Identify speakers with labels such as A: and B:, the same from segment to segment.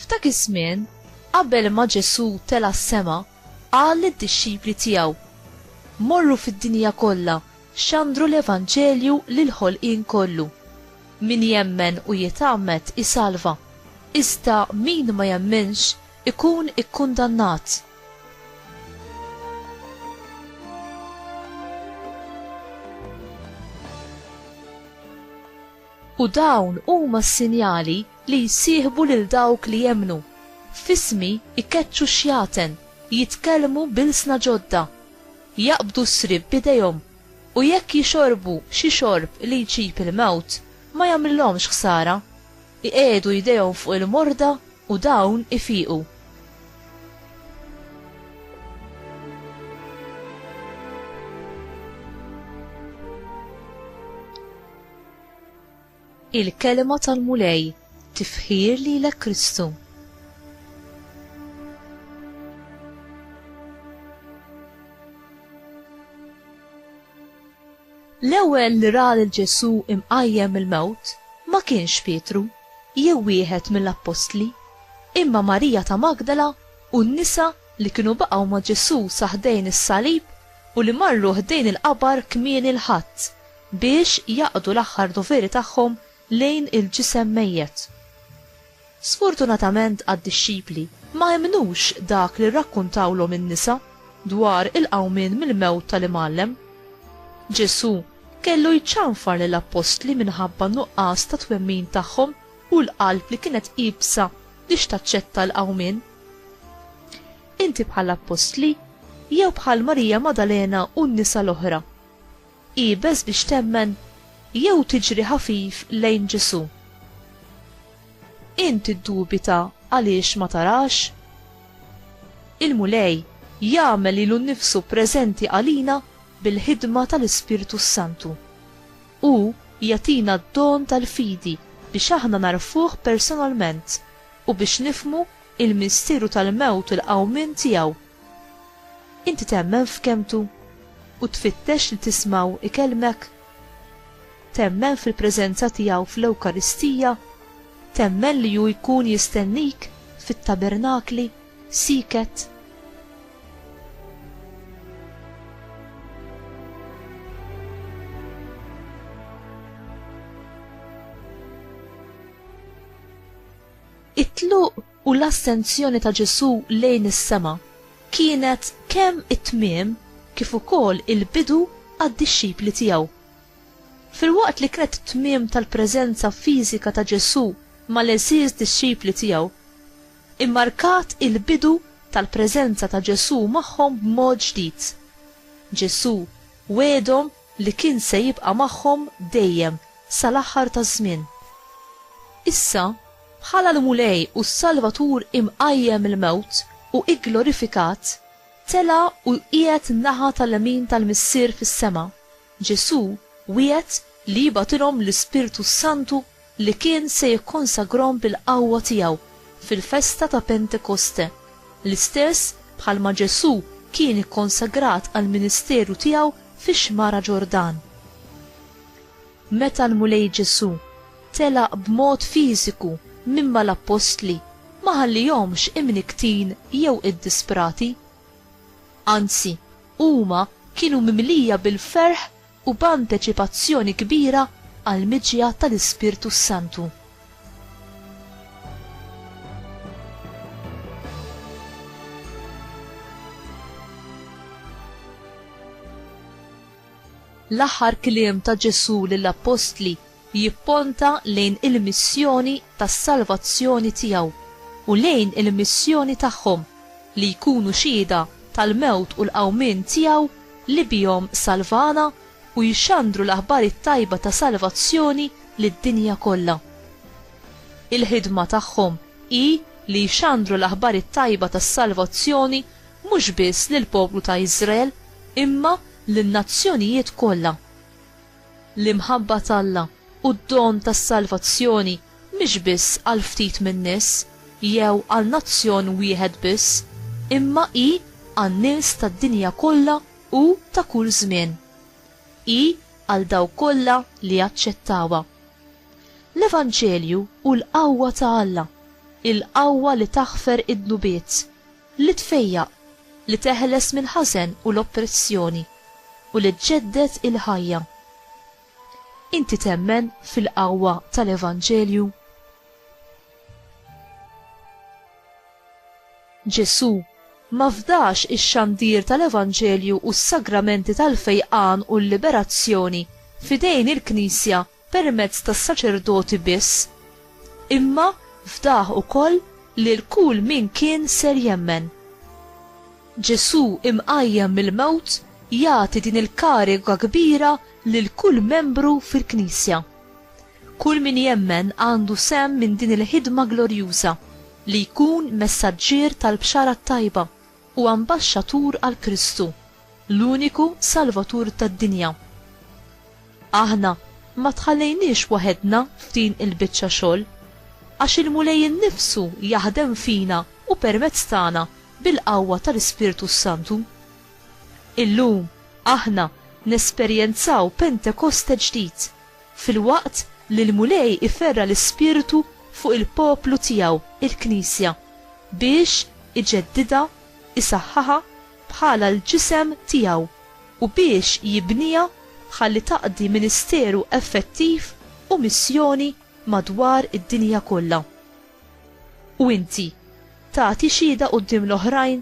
A: F'dak iż-żmien, qabel ma Ġesù tela s-sema, qal lid-dixxipli tiegħu, Morru fid-dinja kollha, xandru l-Evanġelju lil ħolqien kollu. Min jemmen u jitgħammed isalva, iżda min ma jemminx Ikun ikkundannat. U dawn huma s-sinjali li jsieħbu lil dawk li jemmnu, F'ismi jkeċċu x-xjaten, jitkellmu b'ilsna ġodda, jaqbdu s-sriep b'idejhom, u jekk jixorbu xi xorb li jġib il-mewt, ma jagħmlilhomx ħsara. Iqiegħdu jdejhom fuq il-morda u dawn ifiqu. Il-Kelma tal-Mulej, Tifħir lilek Kristu. L-ewwel li ra lil Ġesù imqajjem mill-mewt ma kienx Pietru jew wieħed mill-appostli, imma Marija ta' Magdala u n-nisa li kienu baqgħu ma' Ġesù sa ħdejn is-salib u li marru ħdejn il-qabar kmieni l-Ħadd biex jaqdu l-aħħar doveri tagħhom lejn il-ġisem mejjet. Sfortunatament għad-dixxipli ma emmnux dak li rrakkuntawlhom in-nisa dwar il-qawmien mill-mewt tal-Imgħallem. Ġesù kellu jċanfar lill-appostli minħabba n-nuqqas ta' twemmin tagħhom u l-qalb li kienet iebsa biex taċċetta l-qawmien. Inti bħall-appostli jew bħal Marija Maddalena u n-nisa l-oħra? Iebes biex temmen jew tiġri ħafif lejn Ġesù. Int tiddubita għaliex ma tarax? Il-Mulej jagħmel lilu nnifsu preżenti għalina bil-ħidma tal-Ispirtu s-Santu. Hu jagħtina d-don tal-fidi biex aħna nagħrfuh personalment u biex nifhmu l-misteru tal-mewt u l-qawmien tiegħu. Inti temmen f'kelmtu u tfittex li tismgħu ikellmek? Temmen fil-preżenza tiegħu fl-Ewkaristija? Temmen li hu jkun jistennik fit-tabernakli, sieket? It-tluq u l-assenzjoni ta' Ġesù lejn is-sema kienet kemm it-tmiem kif ukoll il-bidu għad-dixxipli tiegħu. Filwaqt li kienet it-tmiem tal-preżenza fiżika ta' Ġesù mal-għeżież dixxipli tiegħu, immarkat il-bidu tal-preżenza ta' Ġesù magħhom b'mod ġdid. Ġesù wegħedhom li kien se jibqa' magħhom dejjem sal-aħħar taż-żmien. Issa, bħala l-Mulej u s-Salvatur imqajjem mill-mewt u gglorifikat, tela' u qiegħed naħa tal-lemin tal-Missier fis-sema, Ġesù wiegħed li jibgħatilhom l-Ispirtu s-Santu li kien se jikkonsagrahom bil-qawwa tiegħu fil-festa ta' Pentekoste, l-istess bħalma Ġesù kien ikkonsagrat għall-ministeru tiegħu fix-Xmara Ġordan. Meta l-Mulej Ġesù telaq b'mod fiżiku minn mal-appostli ma ħallihomx imnikktin jew iddisprati. Anzi, huma kienu mimlija bil-ferħ u b'anteċipazzjoni kbira għall-miġja tal-Ispirtu s-Santu. L-aħħar kliem ta' Ġesù lill-appostli jipponta lejn il-missjoni tas-salvazzjoni tiegħu u lejn il-missjoni tagħhom li jkunu xhieda tal-mewt u l-qawmien tiegħu li bihom salvana u jxandru l-aħbar it-tajba ta' salvazzjoni lid-dinja kollha. Il-ħidma tagħhom hi li jxandru l-aħbar it-tajba tas-salvazzjoni mhux biss lill-poplu ta' Iżrael imma lin-nazzjonijiet kollha. L-imħabba t'Alla u d-don tas-salvazzjoni mhix biss għal ftit min-nies jew għal nazzjon wieħed biss, imma hi għan-nies tad-dinja kollha u ta' kull żmien. Hi għal dawk kollha li jaċċettawha. L-Evanġelju hu l-qawwa ta' Alla, il-qawwa li taħfer id-dnubiet, Li tfejjaq, li teħles mill-ħażen u l-oppressjoni, u li ġġedded il-ħajja. Inti temmen fil-qawwa tal-Evanġelju? Ġesù ma fdax ix-xandir tal-Evanġelju u s-sagramenti tal-fejqan u l-liberazzjoni f'idejn il-Knisja permezz tas-saċerdoti biss, imma fdah ukoll lil kull min kien ser jemmen. Ġesù imqajjem mill-mewt jagħti din il-kariga kbira lil kull membru fil-Knisja. Kull min jemmen għandu sehem minn din il-ħidma glorjuża, li jkun messaġġier tal-Bxara t-Tajba, u ambaxxatur għal Kristu, l-uniku Salvatur tad-dinja. Aħna ma tħallejniex waħedna f'din il-biċċa xogħol, għax il-Mulej innifsu jaħdem fina u permezz tagħna bil-qawwa tal-Ispirtu s-Santu. Illum aħna nesperjenzaw Pentekoste ġdid, filwaqt li l-Mulej iferra' l-ispirtu fuq il-poplu tiegħu, il-Knisja, biex iġeddidha, isaħħaha bħala l-ġisem tiegħu, u biex jibniha ħalli taqdi ministeru effettiv u missjoni madwar id-dinja kollha. U inti, tagħti xhieda quddiem l-oħrajn?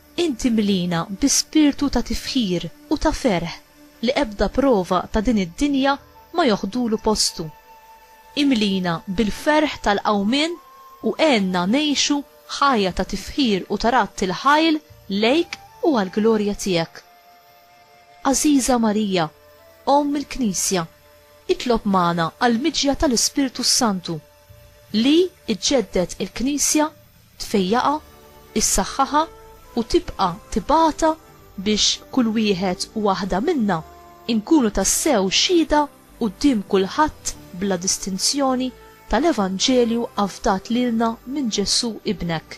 A: Int imlina bi spirtu ta' tifħir u ta' ferħ li ebda prova ta' din id-dinja ma joħdulu postu. Imlina bil-ferħ tal-qawmien u għenna ngħixu ħajja ta' tifħir u ta' radd il-ħajl lejk u għall-glorja tiegħek. Għażiża Marija, Omm il-Knisja, itlob magħna għall-miġja tal-Ispirtu s-Santu. Li iġġedded il-Knisja, tfejjaqha, issaħħaħha u tibqa' tibgħatha biex kull wieħed u waħda minna nkunu tassew xhieda quddiem kulħadd bla distinzjoni tal-Evanġelju afdat lilna minn Ġesù Ibnek.